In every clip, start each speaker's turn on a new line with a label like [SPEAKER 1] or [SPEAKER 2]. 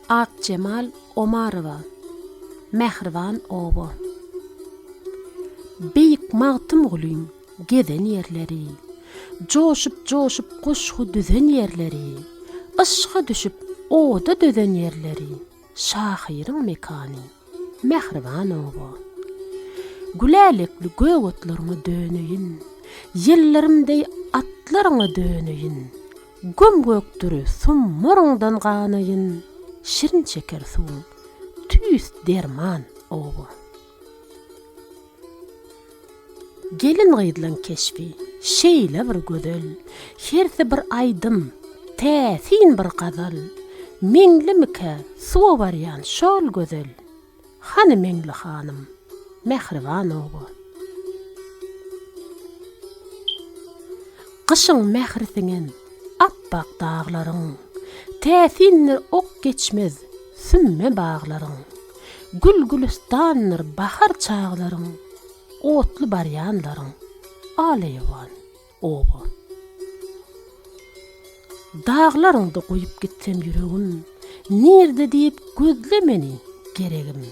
[SPEAKER 1] Akjemal Omarowa Mähriban oba Beýik Magtymgulyň gezen ýerleri Joşup-joşup goşgy düzen ýerleri Yşka düşüp oda dözen ýerleri Şahyryň mekany mähriban oba. Gülälekli gök otlaryňa döneýin, Ýyllarym deý atlaryňa döneýin, Göm-gökdir summuryňdan ganaýyn, Şirin şeker suwuň tüýs derman oba. Gelin-gyzlaň keşbi şeýle bir gözel, Hersi bir aýdym, täsin bir gazal. Meňlimikä suwa barýan şol gözel, Hany Meňli hanym, mähriban oba. Gyşyň mähri siňen apbak daglaryň, Täsindir ok geçmez sümme baglaryň. Gül-gülüstandyr bahar çaglaryň, otly barýanlaryň, alaýawan, oba. Daglaryňda goýup gitsem ýüregim, nirde diýip gözle meni, geregim.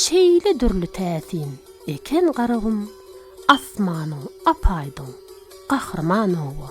[SPEAKER 1] Şeýle dürli täsin eken garagum, asmanyň ap-aýdyň, gahryman, oba.